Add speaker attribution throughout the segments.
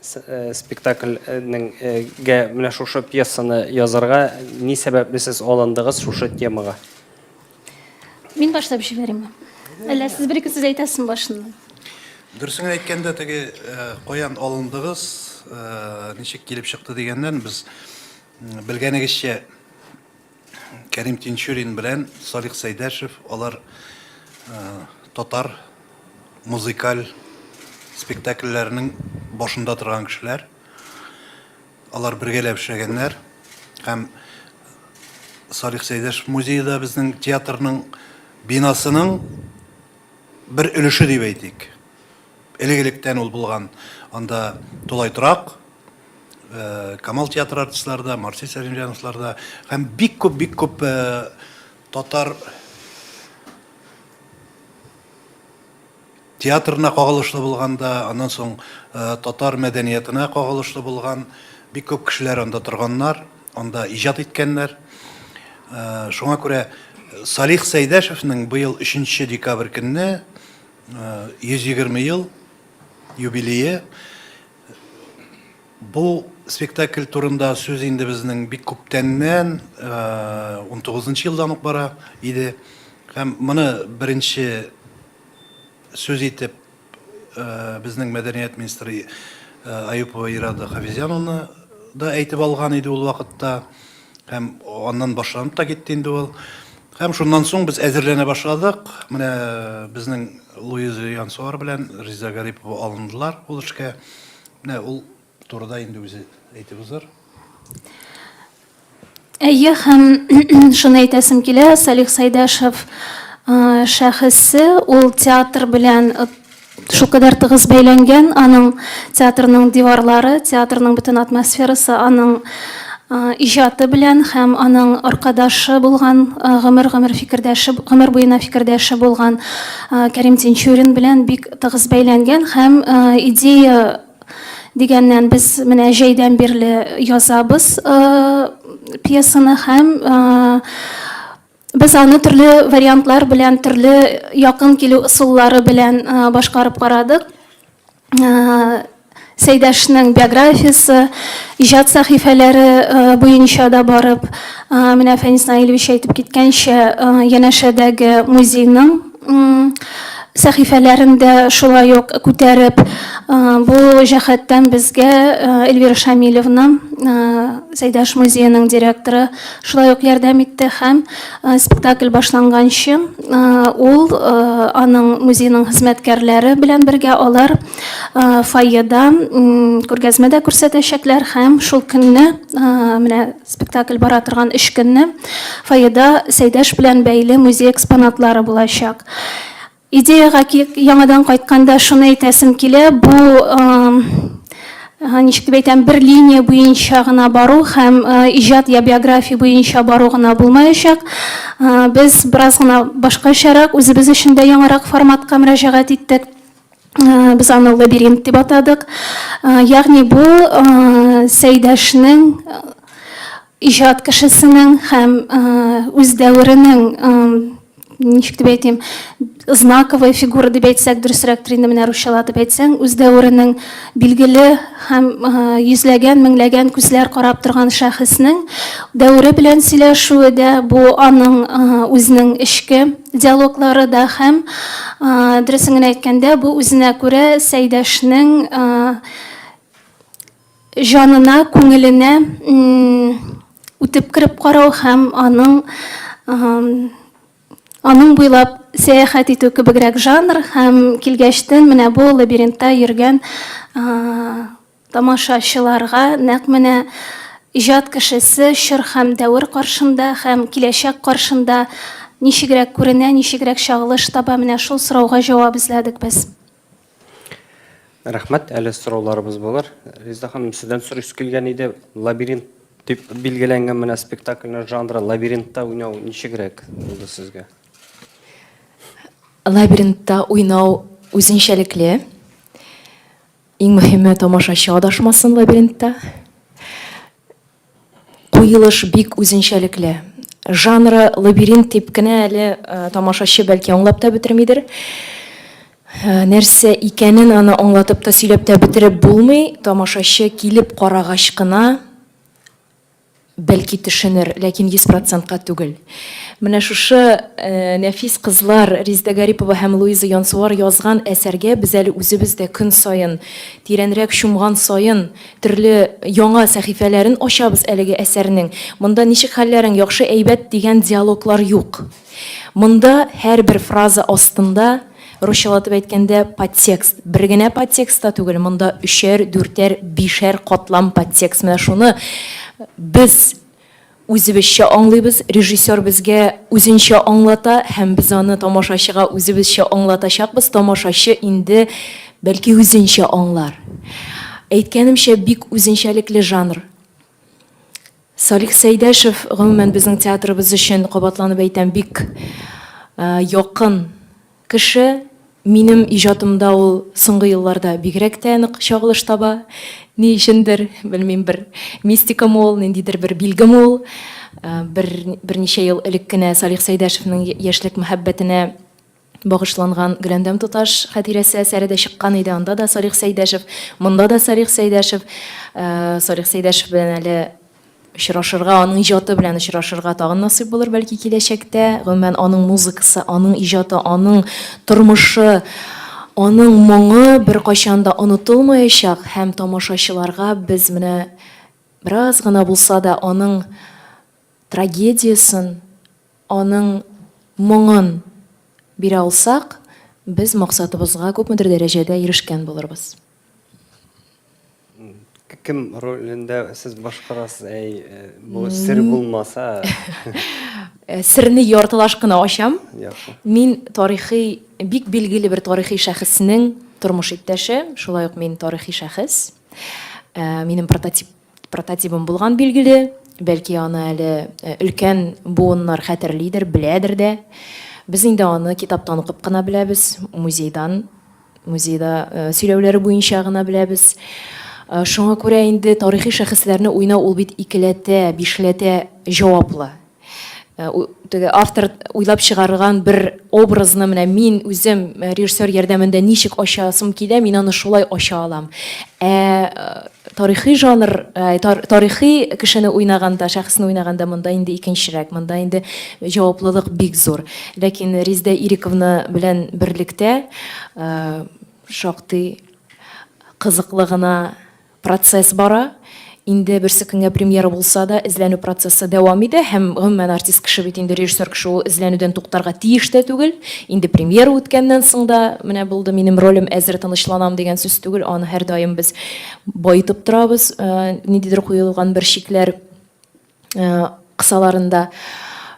Speaker 1: Спектакль нең гә менә шушы пьесаны язарга ни сәбәпле сез алындыгыз шушы темага?
Speaker 2: Мин башлап җибәрим. Әллә сез бер-ике сүз әйтәсезме башыннан? Дөресен
Speaker 3: әйткәндә, теге каян алындыгыз, ничек килеп чыкты дигәннән, без белгәнегезчә, Кәрим Тинчурин белән Салих Сәйдәшев алар татар музыкаль спектакльләренең башында торган кешеләр. Алар бергәләп эшләгәннәр һәм Салих Сәйдәшев музее да безнең театрның бинасының бер өлеше дип әйтик. Элек-электән ул булган анда тулай торак, Камал театры артистлары да, Марсель Сәлимҗановлар да һәм бик күп, бик күп татар театрына кагылышлы булган да, аннан соң татар мәдәниятына кагылышлы булган бик күп кешеләр анда торганнар, анда иҗат иткәннәр. Шуңа күрә Салих Сәйдәшевнең быел 3 декабрь көнне 120 ел юбилее. Бу спектакль турында сүз инде безнең бик күптәннән, 19 нчы елдан ук бара иде. Һәм моны беренче сүз итеп безнең мәдәният министры Аюпова Ирада Хафизяновна да әйтеп алган иде ул вакытта. Һәм аннан башланып та китте инде ул. Һәм шуннан соң без әзерләнә башладык. Менә безнең Луиза Янсуар белән Риза Гарипова алындылар ул эшкә. Менә ул турыда инде үзе әйтеп узыр.
Speaker 2: Әйе, һәм шуны әйтәсем килә, Салих Сәйдәшев шәхесе, ул театр белән Шулкадәр тыгыз бәйләнгән аның театрның диварлары, театрның бөтен атмосферасы аның иҗаты белән һәм аның аркадашы булган, гомер-гомер фикердәше, гомер буена фикердәше булган Кәрим Тинчурин белән бик тыгыз бәйләнгән һәм идея дигәннән без менә җәйдән бирле язабыз пьесаны һәм Без аны төрле вариантлар белән, төрле якын килү ысуллары белән башкарып карадык. Сәйдәшнең биографиясе, иҗат сәхифәләре буенча да барып, менә Фәнис Наилевич әйтеп киткәнчә, янәшәдәге музейның сәхифәләрен дә шулай ук күтәреп, бу җәһәттән безгә Эльвира Шамилевна, Зәйдәш музееның директоры, шулай ук ярдәм итте һәм спектакль башланганчы ул аның музееның хезмәткәрләре белән бергә алар фойеда күргәзмә дә күрсәтәчәкләр һәм шул көнне менә Спектакль бара торган өч көнне фойеда Сәйдәш белән бәйле музей экспонатлары булачак. Идеяга яңадан кайтканда шуны әйтәсем килә, бу ничек дип әйтәм, бер линия буенча гына бару һәм иҗат я биография буенча бару гына булмаячак. Без бераз гына башкачарак, үзебез өчен дә яңарак форматка мөрәҗәгать иттек. Без аны лабиринт дип атадык. Ягъни бу Сәйдәшнең иҗат кешесенең һәм үз дәверенең ничек дип әйтим, знаковая фигура дип әйтсәк, дөресрәктер инде менә русчалатып әйтсәң, үз дәверенең Билгеле һәм йөзләгән, меңләгән күзләр карап торган шәхеснең дәвере белән сөйләшүе дә, бу аның үзенең эчке диалоглары да һәм, дөресен генә әйткәндә, бу үзенә күрә Сәйдәшнең җанына, күңеленә үтеп кереп карау һәм аның Аның буйлап сәяхәт итү кебегрәк жанр һәм килгәчтен менә бу лабиринтта йөргән тамашачыларга нәкъ менә иҗат кешесе чор һәм дәвер каршында һәм киләчәк каршында ничегрәк күренә, ничегрәк чагылыш таба, менә шул сорауга җавап эзләдек без. Рәхмәт,
Speaker 1: әле сорауларыбыз булыр. Резда ханым, сездән сорыйсы килгән иде, лабиринт дип билгеләнгән менә спектакльнең жанры, лабиринтта уйнау ничегрәк булды сезгә?
Speaker 4: Лабиринтта уйнау үзенчәлекле. Иң мөһиме, тамашачы адашмасын лабиринтта. Куелыш бик үзенчәлекле. Жанры лабиринт дип кенә әле тамашачы бәлки аңлап та бетермидер. Нәрсә икәнен аны аңлатып та, сөйләп тә бетереп булмый, тамашачы килеп карагач кына бәлки төшенер, ләкин йөз процентка түгел. Менә шушы нәфис кызлар, Резидә Гарипова һәм Луиза Янсуар язган әсәргә без әле үзебез дә көн саен, тирәнрәк чумган саен, Төрле яңа сәхифәләрен ачабыз әлеге әсәрнең. Монда ничек хәлләрең, яхшы, әйбәт дигән диалоглар юк. Монда һәрбер фраза астында, русчалатып әйткәндә, подтекст. Бер генә подтекст та түгел, монда өчәр, дүртәр, бишәр катлам подтекст. Менә шуны без Үзебезчә аңлыйбыз, режиссер безгә үзенчә аңлата һәм без аны тамашачыга үзебезчә аңлатачакбыз, тамашачы инде, бәлки, үзенчә аңлар. Әйткәнемчә, бик үзенчәлекле жанр. Салих Сәйдәшев, гомумән, безнең театрыбыз өчен, кабатланып әйтәм, бик якын Кеше минем иҗатымда ул соңгы елларда бигрәк тә нык чагылыш таба. Ни өчендер, белмим, бер мистикамы ул, ниндидер бер билгеме ул. Бер, берничә ел элек кенә Салих Сәйдәшевнең яшьлек мәхәббәтенә багышланган Гөләндәм туташ хатирәсе әсәре дә чыккан иде, анда да Салих Сәйдәшев, монда да Салих Сәйдәшев. Салих Сәйдәшев белән әле очрашырга, аның иҗаты белән очрашырга тагын насыйп булыр, бәлки, киләчәктә. Гомумән, аның музыкасы, аның иҗаты, аның тормышы, аның моңы беркайчан да онытылмаячак һәм тамашачыларга без менә бераз гына булса да аның трагедиясен, аның моңын бирә алсак, без максатыбызга күпмедер дәрәҗәдә ирешкән булырбыз.
Speaker 1: Кем ролендә сез башкарасыз? Әй, э, бу сер булмаса.
Speaker 4: Э, Серне яртылаш кына ачам. Яхшы. Мин
Speaker 1: тарихи,
Speaker 4: бик билгеле бер тарихи шәхеснең тормыш иптәше, шулай ук мин тарихи шәхес. Э, Минем прототип Прототибым булган билгеле, бәлки аны әле өлкән буыннар хәтерлидер, беләдер дә. Без инде аны китаптан укып кына беләбез, музейдан, музейда сөйләүләре буенча гына беләбез. Шуңа күрә инде тарихи шәхесләрне уйнау ул бит икеләтә, бишләтә җаваплы. Э, теге автор уйлап чыгарган бер образны менә мин үзем э, режиссер ярдәмендә ничек ачасым килә, мин аны шулай ача алам. Ә э, тарихи жанр, тарихи кешене уйнаганда, шәхесне уйнаганда монда инде икенчерәк, монда инде җаваплылык бик зур. Ләкин Риздә Ириковна белән берлектә шактый кызыклы гына Процесс бара. Инде берсе көнгә премьера булса да, эзләнү процессы дәвам итә һәм, гомумән, артист кеше бит инде, режиссер кеше ул эзләнүдән туктарга тиеш тә түгел. Инде премьера үткәннән соң да, менә булды, минем ролем әзер, тынычланам, дигән сүз түгел, аны һәрдаим без баетып торабыз, ниндидер куелган бер чикләр кысаларында.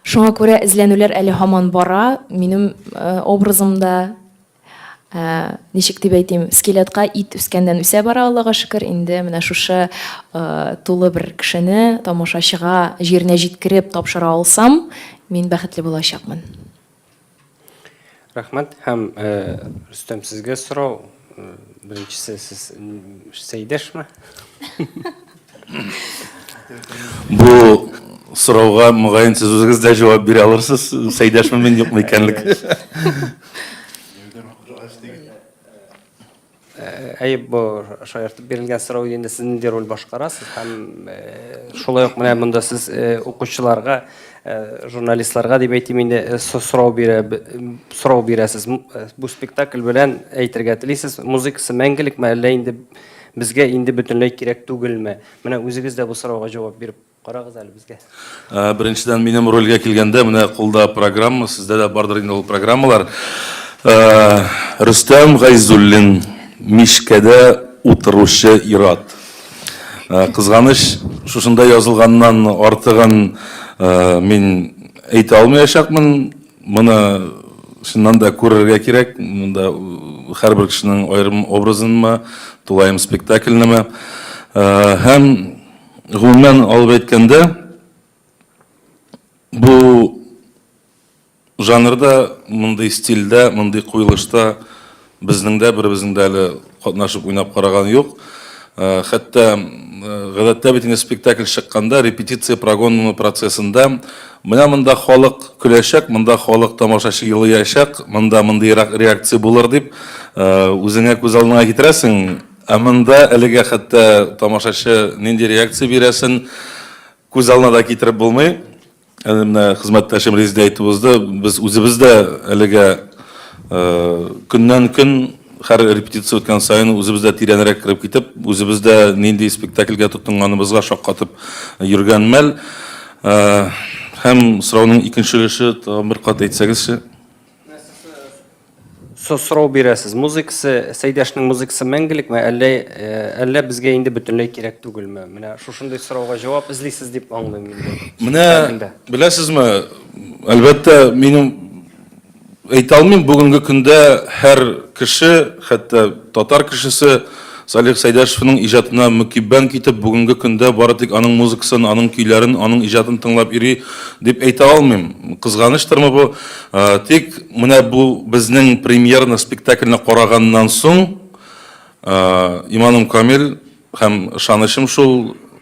Speaker 4: Шуңа күрә эзләнүләр әле һаман бара. Минем образым да, Ничек дип әйтим, скелетка ит үскәннән үсә бара, Аллага шөкер, инде менә шушы тулы бер кешене тамашачыга җиренә җиткереп тапшыра алсам, мин бәхетле булачакмын.
Speaker 1: Рәхмәт һәм Рөстәм сезгә сорау. Беренчесе сез Сәйдәшме?
Speaker 5: Бу сорауга, мөгаен, сез үзегез дә җавап бирә алырсыз, Сәйдәшме мин юкмы икәнлек.
Speaker 1: Әйе, бу шаяртып бирелгән сорау инде сез нинди роль башкарасыз һәм шулай ук менә монда сез укучыларга, журналистларга дип әйтим инде, сорау бирә, сорау бирәсез. Бу спектакль белән әйтергә телисез, музыкасы мәңгелекме, әллә инде Безгә инде бөтенләй кирәк түгелме? Менә үзегез дә бу сорауга җавап биреп карагыз әле безгә. Беренчедән,
Speaker 5: минем рольгә килгәндә, менә кулда программа, сездә дә бардыр инде ул программалар. Рөстәм Гайзуллин, мичкәдә утыручы ир-ат. Кызганыч, шушында язылганнан артыгын мин әйтә алмаячакмын. Моны чыннан да күрергә кирәк, монда һәрбер кешенең аерым образынмы, тулаем спектакльнеме. Һәм гомумән алып әйткәндә, бу жанрда, мондый стильдә, мондый куелышта Безнең дә беребезнең дә әле катнашып уйнап караган юк. Хәтта гадәттә бит инде спектакль чыкканда репетиция прогоннымы процессында менә монда халык көләчәк, монда халык тамашачы елыячак, монда мондыйрак реакция булыр дип үзеңә күз алдыңа китерәсең. Ә монда әлегә хәтта тамашачы нинди реакция бирәсен күз алдына да китереп булмый. Әле менә хезмәттәшем Резидә әйтеп узды, без үзебез дә әлегә көннән-көн һәр репетиция үткән саен үзебез дә тирәнрәк кереп китеп, үзебез дә нинди спектакльгә тотынганыбызга шаккатып йөргән мәл. Һәм сорауның икенче өлеше тагын бер кат әйтсәгезче?
Speaker 1: Со сорау бирәсез, музыкасы, Сәйдәшнең музыкасы мәңгелекме, әллә, э, әллә безгә инде бөтенләй кирәк түгелме? Менә шушындый сорауга җавап эзлисез дип аңлыйм инде. Менә Чәчәгендә.
Speaker 5: беләсезме, әлбәттә, минем әйтә алмыйм, бүгенге көндә һәр кеше, хәтта татар кешесе Салих Сәйдәшевның иҗатына мөкиббән китеп, бүгенге көндә бары тик аның музыкасын, аның көйләрен, аның иҗатын тыңлап йөри дип әйтә алмыйм. Кызганыштырмы бу? Тик менә бу безнең премьерный спектакльне караганнан соң, иманым камил һәм ышанычым шул,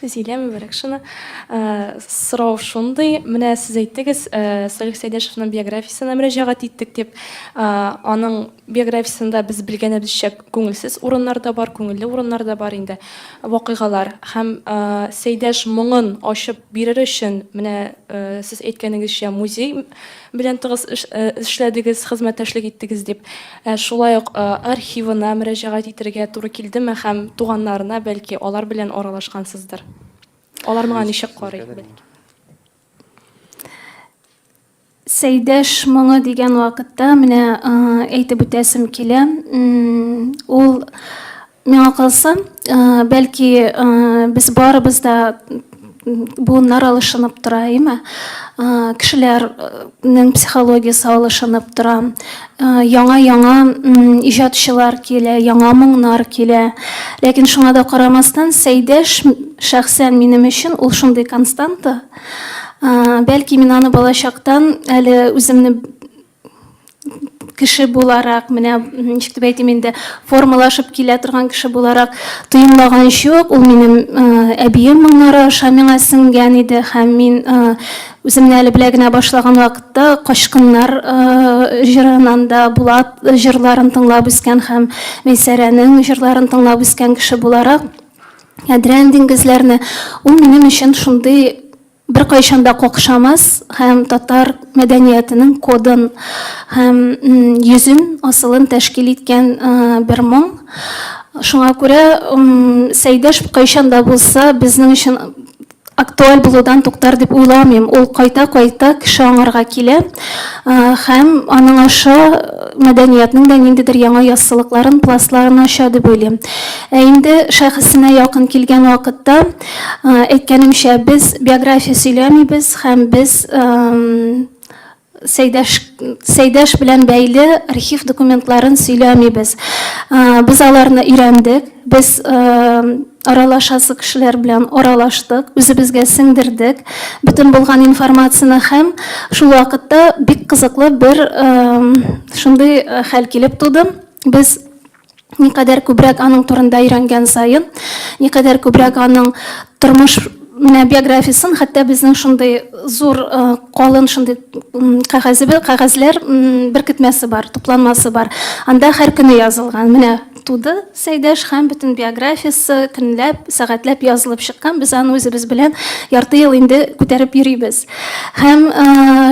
Speaker 1: Зилә
Speaker 6: Мөбарәкшина, Сорау шундый, менә сез әйттегез, Салих Сәйдәшевнең биографиясенә мөрәҗәгать иттек дип. Аның биографиясендә без белгәнебезчә күңелсез урыннар да бар, күңелле урыннар да бар инде, вакыйгалар. Һәм Сәйдәш моңын ачып бирер өчен, менә сез әйткәнегезчә, музей белән тыгыз эшләдегез, хезмәттәшлек иттегез дип, шулай ук архивына мөрәҗәгать итәргә туры килдеме һәм туганнарына, бәлки, алар белән аралашкансыздыр? Алар моңа ничек карый?
Speaker 2: Сәйдәш моңы дигән вакытта, менә әйтеп үтәсем килә, ул Миңа калса, бәлки, без барыбыз да буыннар алышынып тора, әйме? Кешеләрнең психологиясе алышынып тора. Яңа-яңа иҗатчылар килә, яңа моңнар килә. Ләкин шуңа да карамастан, Сәйдәш, шәхсән минем өчен ул шундый константа. Бәлки, мин аны балачактан әле үземне кеше буларак, менә ничек дип әйтим инде, формалашып килә торган кеше буларак тоемлаган чук, ул минем э, әбием моңнары аша миңа сеңгән иде һәм мин э, үземне әле белә генә башлаган вакытта качкыннар э, җырынан да Булат җырларын тыңлап үскән һәм Мейсәрәнең җырларын тыңлап үскән кеше буларак Әдрән диңгезләрне ул минем өчен шундый беркайчан да какшамас һәм татар мәдәниятенең кодын һәм йөзен, асылын тәшкил иткән бер моң. Шуңа күрә Сәйдәш кайчан да булса безнең өчен актуаль булудан туктар дип уйламыйм. Ул кайта-кайта кеше аңарга килә һәм аның аша мәдәниятнең дә ниндидер яңа яссылыкларын, пластларын ача дип уйлыйм. Ә инде шәхесенә якын килгән вакытта, Әйткәнемчә, без биография сөйләмибез һәм без Сәйдәш Сәйдәш белән бәйле архив документларын сөйләмибез. Без аларны өйрәндек, без аралашасы кешеләр белән аралаштык, үзебезгә сеңдердек бөтен булган информацияне һәм шул вакытта бик кызыклы бер шундый хәл килеп туды. Без Никадәр күбрәк аның турында өйрәнгән саен, никадәр күбрәк аның тормыш менә биографиясен, хәтта безнең шундый зур калын шундый кәгазебе, кәгазьләр беркетмәсе бар, тупланмасы бар. Анда һәр көне язылган. Менә туды Сәйдәш һәм бөтен биографиясе көнләп, сәгатьләп язылып чыккан. Без аны үзебез белән ярты ел инде күтәреп йөрибез. Һәм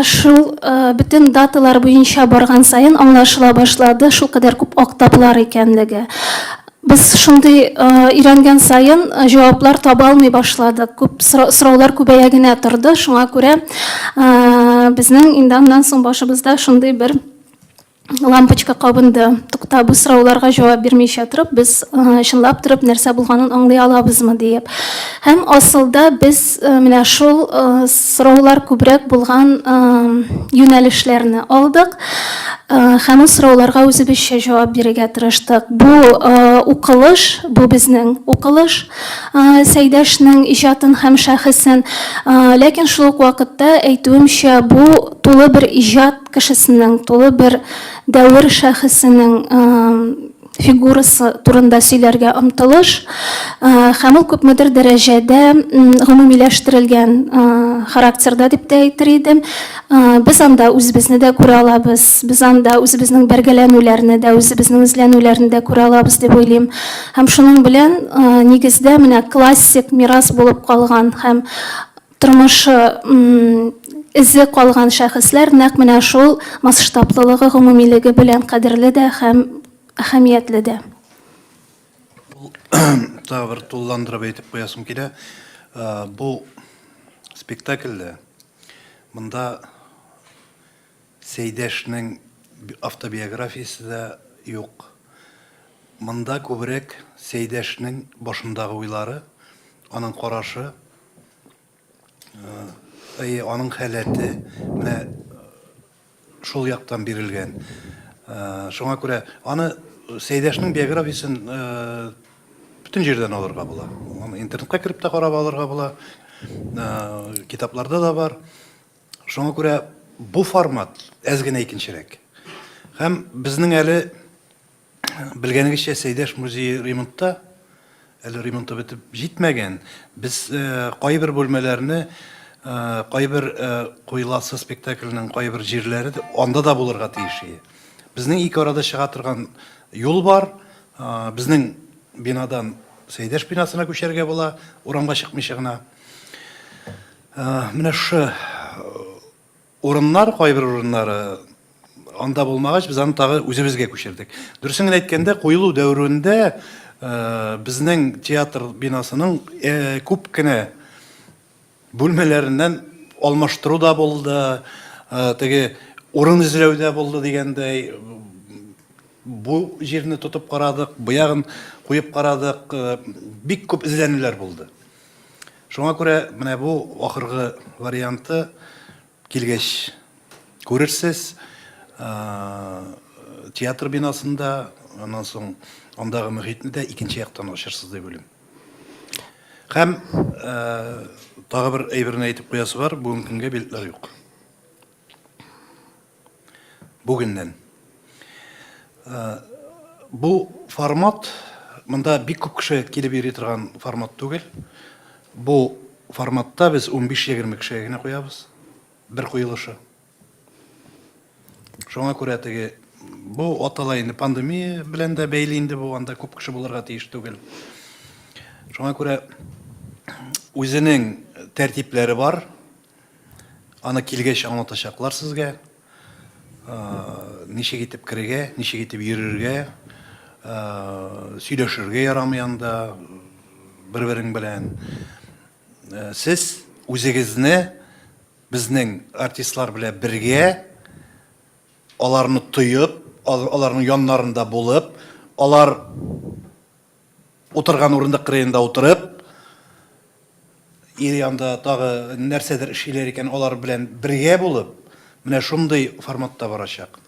Speaker 2: шул бөтен даталар буенча барган саен аңлашыла башлады, шул кадәр күп актаплар икәнлеге. Без шундый өйрәнгән саен җаваплар таба алмый башладык. Күп сораулар күбәя генә торды. Шуңа күрә безнең инде аннан соң башыбызда шундый бер лампочка кабынды. Тукта, бу сорауларга җавап бирмичә торып, без чынлап торып нәрсә булганын аңлый алабызмы диеп. Һәм асылда без менә шул сораулар күбрәк булган юнәлешләрне алдык. Һәм ул сорауларга үзебезчә җавап бирергә тырыштык. Бу укылыш, бу безнең укылыш, Сәйдәшнең иҗатын һәм шәхесен. Ләкин шул ук вакытта әйтүемчә, бу тулы бер иҗат кешесенең, тулы бер дәвер шәхесенең фигурасы турында сөйләргә омтылыш һәм ул күпмедер дәрәҗәдә гомумиләштерелгән характерда дип тә әйтер идем. Без анда үзебезне дә күрә алабыз, без анда үзебезнең бәргәләнүләрне дә, үзебезнең эзләнүләрне дә күрә алабыз дип уйлыйм. Һәм шуның белән нигездә менә классик мирас булып калган һәм Тормышы эзе калган шәхесләр нәкъ менә шул масштаблылыгы, гомумилеге белән кадерле дә һәм әһәмиятле дә.
Speaker 3: Тагы бер тулыландырып әйтеп куясым килә. Бу спектакльдә монда Сәйдәшнең автобиографиясе дә юк. Монда күбрәк Сәйдәшнең башындагы уйлары, аның карашы, Әйе, аның халәте менә шул яктан бирелгән. Шуңа күрә аны Сәйдәшнең биографиясен бүтән җирдән алырга була. Аны интернетка кереп тә карап алырга була. Китапларда да бар. Шуңа күрә бу формат әз генә икенчерәк. Һәм безнең әле Белгәнегезчә, Сәйдәш музее ремонтта, әле ремонты бетеп җитмәгән. Без кайбер бүлмәләрне, кайбер Куеласы спектакленең кайбер җирләре анда да булырга тиеш иде. Безнең ике арада чыга торган юл бар. Безнең бинадан Сәйдәш бинасына күчәргә була, урамга чыкмыйча гына. Менә шушы Урыннар, кайбер урыннар анда булмагач, без аны тагы үзебезгә күчердек. Дөресен генә әйткәндә, куелу дәверендә безнең театр бинасының күп кенә бүлмәләреннән алмаштыру да булды, теге урын эзләү дә булды дигәндәй, бу җирне тотып карадык, бу ягын куеп карадык, бик күп эзләнүләр булды. Шуңа күрә менә бу ахыргы варианты килгәч күрерсез. Театр бинасында, аннан соң андагы мөхитне дә икенче яктан ачырсыз дип уйлыйм. Һәм тагы бер әйберне әйтеп куясы бар, бүгенге көнгә билетлар юк. Бүгеннән. Бу формат, монда бик күп кеше килеп йөри торган формат түгел. Бу форматта без 15-20 кешегә генә куябыз. Бер куелышы. Шуңа күрә теге бу атала инде пандемия белән дә бәйле инде бу, анда күп кеше булырга тиеш түгел. Шуңа күрә үзенең тәртипләре бар. Аны килгәч аңлатачаклар сезгә. Ничек итеп керергә, ничек итеп йөрергә, сөйләшергә ярамый анда бер-берең белән. Сез үзегезне безнең артистлар белән бергә, аларны тоеп, аларның яннарында булып, алар Утырган урындык кырыенда утырып, ир янда тагы нәрсәдер эшлиләр икән, алар белән бергә булып, менә шундый форматта барачак.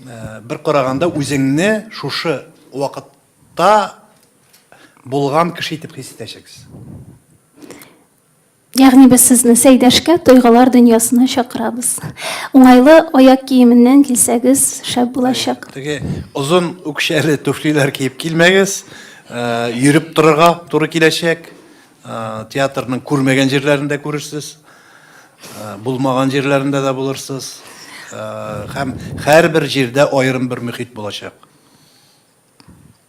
Speaker 3: Бер караганда үзеңне шушы вакытта булган кеше итеп хис итәчәксез.
Speaker 2: Ягъни без сезне Сәйдәшкә тойгылар дөньясына чакырабыз. Уңайлы аяк киеменнән килсәгез, шәп булачак. Теге озын
Speaker 3: үкчәле туфлиләр киеп килмәгез. Йөреп торырга туры киләчәк. Театрның күрмәгән җирләрен дә күрерсез. Булмаган җирләрендә дә булырсыз. Һәм һәрбер җирдә аерым бер мөхит булачак.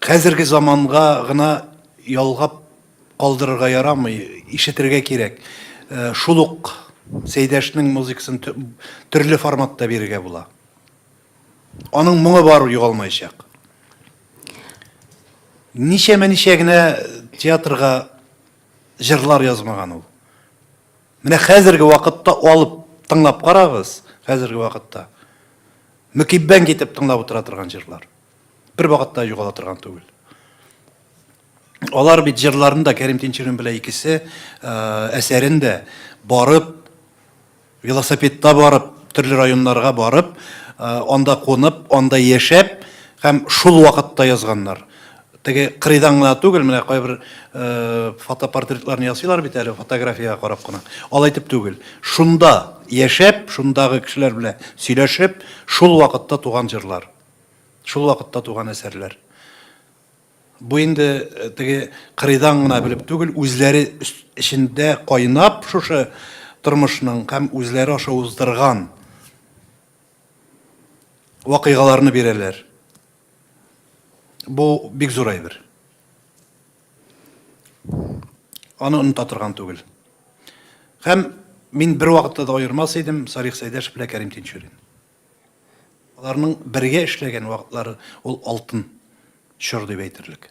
Speaker 3: Хәзерге заманга гына ялгап калдырырга ярамый, ишетергә кирәк. Э, шул ук Сәйдәшнең музыкасын төрле форматта бирергә була. Аның моңы бар югалмаячак. Ничәмә ничә генә театрга җырлар язмаган ул. Менә хәзерге вакытта алып тыңлап карагыз, хәзерге вакытта. Мөкиббән китеп тыңлап утыра торган җырлар. Бер вакытта югала торган түгел. Алар бит җырларын да Кәрим Тинчурин белән икесе э, әсәрен дә барып, велосипедта барып, төрле районнарга барып, э, анда кунып, анда яшәп һәм шул вакытта язганнар. Теге кырыйдан гына түгел, менә кайбер фотопортретларны ясыйлар бит әле, фотографиягә карап кына. Алай дип түгел. Шунда яшәп, шундагы кешеләр белән сөйләшеп, шул вакытта туган җырлар. Шул вакытта туган әсәрләр. Бу инде теге кырыйдан гына белеп түгел, үзләре эчендә кайнап шушы тормышның һәм үзләре аша уздырган вакыйгаларны бирәләр. Бу бик зур әйбер. Аны оныта торган түгел. Һәм мин бер вакытта да аермас идем Салих Сәйдәш белән Кәрим Тинчурин. Аларның бергә эшләгән вакытлары ул алтын чор дип әйтерлек.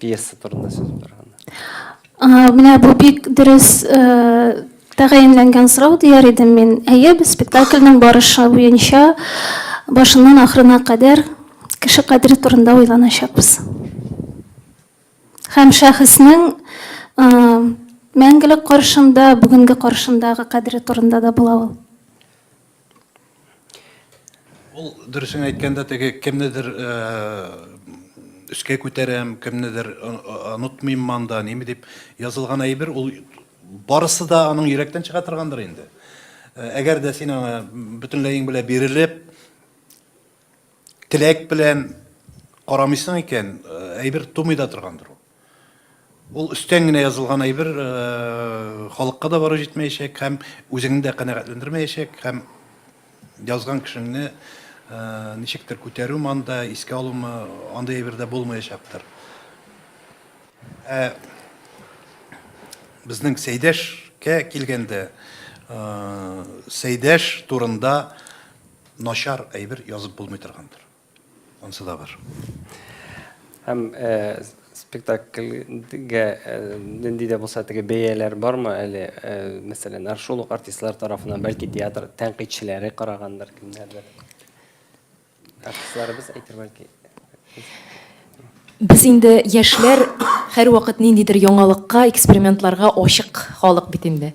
Speaker 1: Пьеса турында сүз барганда. Менә бу бик
Speaker 2: дөрес тәгаенләнгән сорау дияр идем мин. Әйе, без спектакльнең барышы буенча башыннан ахырына кадәр кеше кадере турында уйланачакбыз. Һәм шәхеснең мәңгелек каршында, бүгенге каршындагы кадере турында да була ул.
Speaker 3: Ул дөресен әйткәндә теге кемнедер өскә күтәрәм, кемнедер онытмыйм манда, неме дип язылган әйбер, ул барысы да аның йөрәктән чыга торгандыр инде. Әгәр дә син аңа бөтенләең белән бирелеп, Теләк белән карамыйсың икән, әйбер тумый да торгандыр ул. Ул өстән генә язылган әйбер халыкка да барып җитмәячәк һәм үзеңне дә канәгатьләндермәячәк һәм язган кешеңне ничектер күтәрүме анда, искә алумы, андый әйбер дә булмаячактыр. Ә безнең Сәйдәшкә килгәндә, Сәйдәш турында Начар әйбер язып булмый торгандыр. Ансы да бар.
Speaker 1: Һәм спектакльгә нинди дә булса теге бәяләр бармы әле? Мәсәлән, шул ук артистлар тарафыннан, бәлки театр тәнкыйтьчеләре карагандыр, кемнәрдер. Артистларыбыз әйтер бәлки.
Speaker 4: Без инде яшьләр һәрвакыт ниндидер яңалыкка, экспериментларга ачык халык бит инде.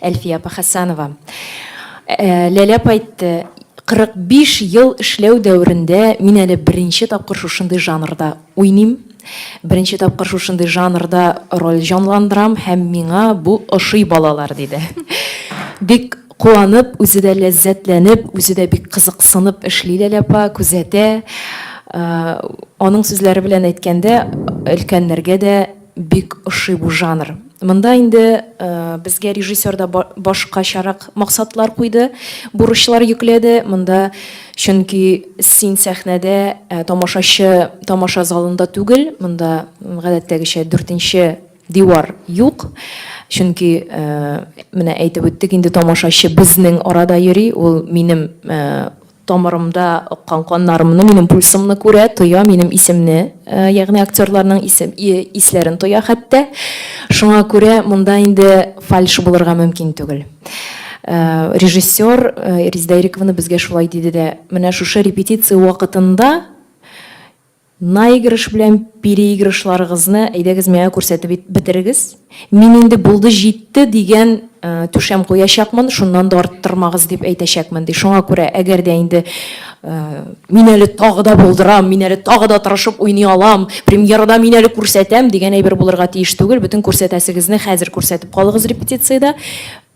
Speaker 4: Әлфия апа Хәсәнова. Ләлә апа әйтте, 45 ел эшләү дәверендә мин әле беренче тапкыр шушындый жанрда уйныйм. Беренче тапкыр шушындый жанрда роль җанландырам һәм миңа бу ошый балалар, диде. Бик куанып, үзе дә ләззәтләнеп, үзе дә бик кызыксынып эшли Ләлә апа, күзәтә. Аның сүзләре белән әйткәндә, өлкәннәргә дә, Бик ошый бу жанр. Монда инде безгә режиссер да башкачарак максатлар куйды, бурычлар йөкләде. Монда чөнки син сәхнәдә, ә тамашачы тамаша залында түгел. Монда гадәттәгечә дүртенче дивар юк. Чөнки менә әйтеп үттек инде, тамашачы безнең арада йөри, ул минем Тамырымда аккан каннарымны, минем пульсымны күрә, тоя, минем исемне, ягъни актерларның исем, исләрен тоя хәтта. Шуңа күрә монда инде фальш булырга мөмкин түгел. Режиссер Резидә Ирековна безгә шулай диде дә, менә шушы репетиция вакытында Наигрыш белән переигрышларыгызны әйдәгез миңа күрсәтеп бетерегез. Мин инде булды җитте дигән түшәм куячакмын, шуннан да арттырмагыз дип әйтәчәкмен, ди. Шуңа күрә, әгәр дә инде мин әле тагы да булдырам, мин әле тагы да тырышып уйный алам, премьерада мин әле күрсәтәм дигән әйбер булырга тиеш түгел. Бөтен күрсәтәсегезне хәзер күрсәтеп калыгыз репетициядә.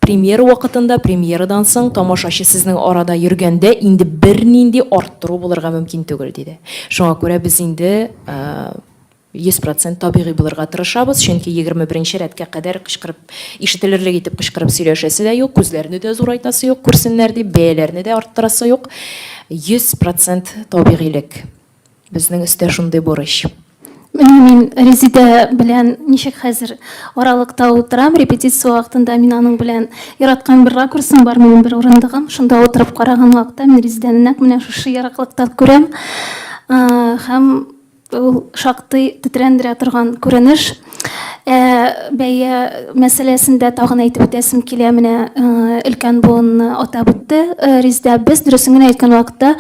Speaker 4: Премьера вакытында, премьерадан соң тамашачы сезнең арада йөргәндә инде бернинди арттыру булырга мөмкин түгел, диде. Шуңа күрә без инде 100 процент табигый булырга тырышабыз, чөнки егерме беренче рәткә кадәр кычкырып, ишетелерлек итеп кычкырып сөйләшәсе дә юк, күзләрне дә зурайтасы юк, күрсеннәр дип, бәяләрне дә арттырасы юк. 100 процент табигыйлек. Безнең өстә шундый бурыч. Менә мин
Speaker 2: Резидә белән ничек хәзер аралыкта утырам, репетиция вакытында мин аның белән яраткан бер ракурсым бар, минем бер урындыгым, шунда утырып караган вакытта мин Резидәне нәкъ менә шушы ераклыктан күрәм. Һәм ул шактый тетрәндерә торган күренеш. Ә, бәя мәсьәләсендә тагын әйтеп үтәсем килә, менә өлкән буынны атап үтте Резидә. Без, дөресен генә әйткән вакытта,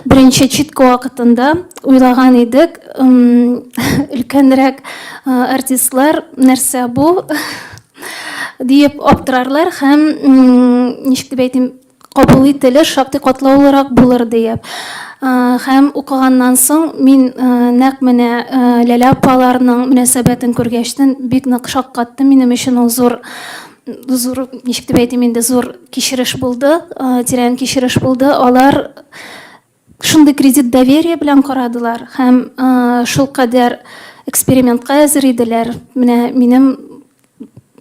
Speaker 2: беренче читка вакытында уйлаган идек, өлкәнрәк артистлар нәрсә бу диеп аптырарлар һәм, ничек дип әйтим, кабул ителер, шактый катлаулырак булыр диеп. Һәм укыганнан соң мин нәкъ менә Ләлә апаларның мөнәсәбәтен күргәчтен бик нык шаккатты. Минем өчен ул зур зур, ничек дип әйтим инде, зур кичереш булды, тирән кичереш булды. Алар Шундый кредит доверие белән карадылар һәм шулкадәр экспериментка әзер иделәр. Менә минем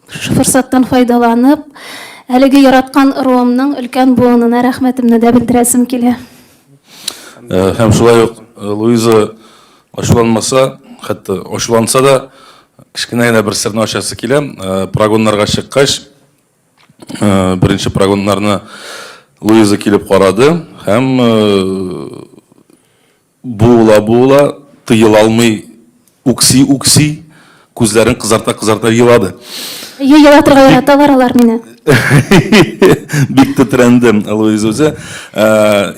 Speaker 2: форсаттан файдаланып, әлеге яраткан ыруымның өлкән буынына рәхмәтемне дә белдерәсем килә.
Speaker 5: Һәм шулай ук Луиза ачуланмаса, хәтта ачуланса да, кечкенә генә бер серне ачасы килә. Прогоннарга чыккач, Беренче прогоннарны Луиза килеп карады һәм буыла-буыла, тыела алмый үкси-үкси, күзләрен кызарта-кызарта елады. Әйе, елатырга
Speaker 2: яраталар алар мине.
Speaker 5: Бик тетрәнде Луиза үзе.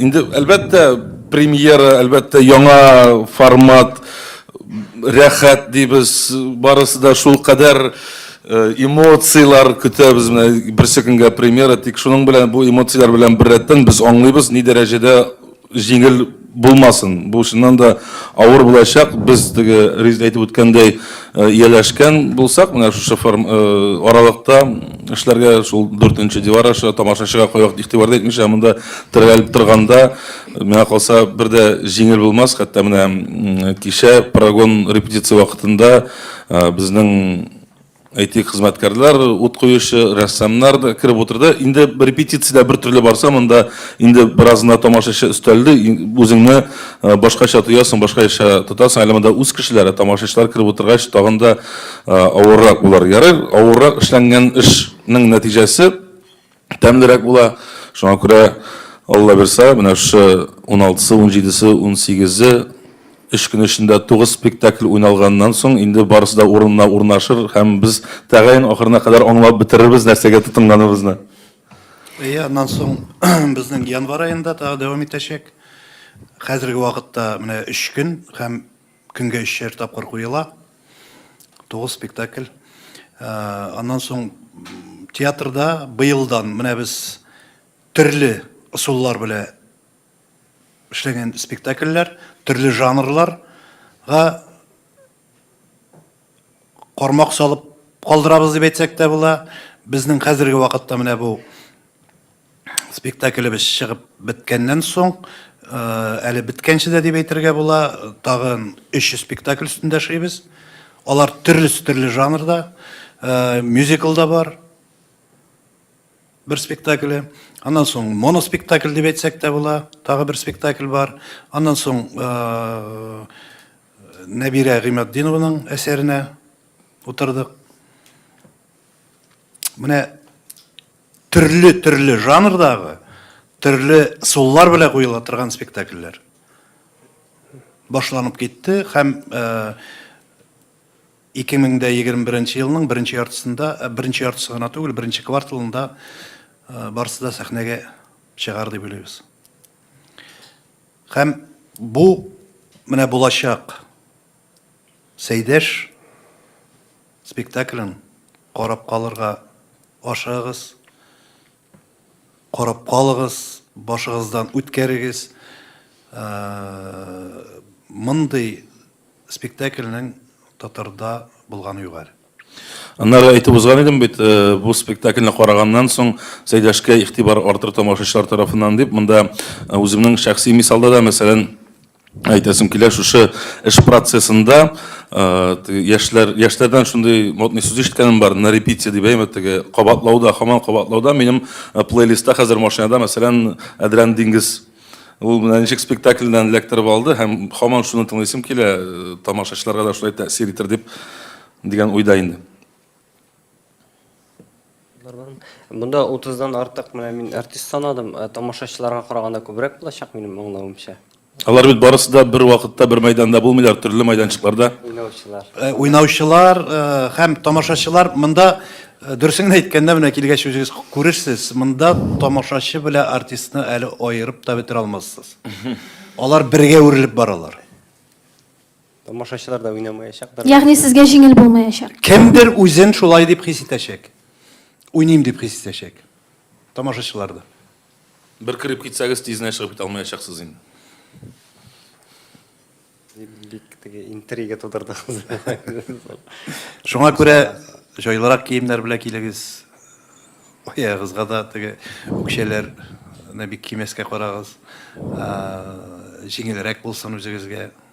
Speaker 5: Инде, әлбәттә, премьера, әлбәттә, яңа формат, рәхәт дибез, барысы да шулкадәр Эмоцияләр көтәбез, менә берсе көнгә премьера, тик шуның белән, бу эмоцияләр белән беррәттән без аңлыйбыз, ни дәрәҗәдә җиңел булмасын. Бу чыннан да авыр булачак. Без теге Резидә әйтеп үткәндәй, ияләшкән булсак, менә шушы аралыкта эшләргә, шул дүртенче дивар аша тамашачыга кайвакыт игътибар да итмичә монда терәлеп торганда, миңа калса, бер дә җиңел булмас. Хәтта менә кичә прогон репетиция вакытында, Безнең әйтик хезмәткәрләр, ут куючы, рәссамнар да кереп утырды. Инде репетициядә бер төрле барса, монда инде беразына тамашачы өстәлде, үзеңне башкача тоясың, башкача тотасың. Әле монда үз кешеләре, тамашачылар кереп утыргач, тагын да авыррак булыр. Ярар, авыррак эшләнгән эшнең нәтиҗәсе тәмлерәк була. Шуңа күрә, Алла бирса, менә шушы 16-сы, 17-се, 18-е, өч көн эчендә тугыз спектакль уйналганнан соң, инде барысы да урынына урнашыр һәм без тәгаен ахырына кадәр аңлап бетерербез нәрсәгә тотынганыбызны. Әйе,
Speaker 3: аннан соң безнең январь аенда тагы дәвам итәчәк. Хәзерге вакытта менә өч көн һәм Көнгә өчәр тапкыр куела. Тугыз спектакль. Ә, аннан соң театрда быелдан менә без төрле ысуллар белән эшләгән спектакльләр, төрле жанрларга кармак салып калдырабыз дип әйтсәк тә була. Безнең хәзерге вакытта менә бу спектаклебез чыгып беткәннән соң, әле беткәнче дә дип әйтергә була, тагын өч спектакль өстендә эшлибез. Алар төрлесе төрле жанрда. Мюзикл да бар. бер спектакле. Аннан соң моноспектакль дип әйтсәк тә була, тагы бер спектакль бар. Аннан соң Нәбирә Гыйматдинованың әсәренә утырдык. Менә төрле-төрле жанрдагы, төрле суллар белән куела торган спектакльләр башланып китте һәм 2021 нче елның беренче яртысында, беренче яртысы гына түгел, беренче кварталында барысы да сәхнәгә чыгар дип уйлыйбыз. Һәм бу менә булачак Сәйдәш спектаклен карап калырга ашыгыгыз. Карап калыгыз, башыгыздан үткәрегез. Мондый спектакльнең татарда булганы юк әле. Аннары әйтеп
Speaker 5: узган идем бит, бу спектакльне караганнан соң Сәйдәшкә игътибар артыр тамашачылар тарафыннан дип. Монда үземнең шәхси мисалда да, мәсәлән, Әйтәсем килә, шушы эш процессында яшьләр, яшьләрдән шундый модный сүз ишеткәнем бар, на репите дип әйме, теге кабатлауда, хаман кабатлауда, минем плейлистта хәзер машинада, мәсәлән, Әдрән диңгез Ул менә ничек спектакльдән эләктереп алды һәм хаман шуны тыңлыйсым килә, тамашачыларга да шулай тәэсир итер дип дигән уйда инде.
Speaker 1: Монда 30 дан артык менә мин артист санадым. Ә тамашачыларга караганда күбрәк булачак минем аңлавымча. Алар бит барысы
Speaker 5: да бер вакытта бер мәйданда булмыйлар, төрле мәйданчыкларда. Уйнаучылар.
Speaker 3: Уйнаучылар һәм тамашачылар монда дөресен генә әйткәндә менә килгәч үзегез күрерсез, монда тамашачы белән артистны әле аерып та бетерә алмассыз. Алар бергә үрелеп баралар. Тамашачылар
Speaker 1: да уйнамаячактыр. Ягъни сезгә җиңел
Speaker 2: булмаячак. Кемдер үзен
Speaker 3: шулай дип хис итәчәк. Уйныйм дип хис итәчәк. Тамашачылар да.
Speaker 5: Бер кереп китсәгез, тизенә чыгып китә алмаячаксыз инде.
Speaker 1: Бик теге интрига тудырдыгыз.
Speaker 3: Шуңа күрә җайлырак киемнәр белән килегез. Аягыгызга да теге үкчәләрне бик кимәскә карагыз. Җиңелрәк булсын үзегезгә.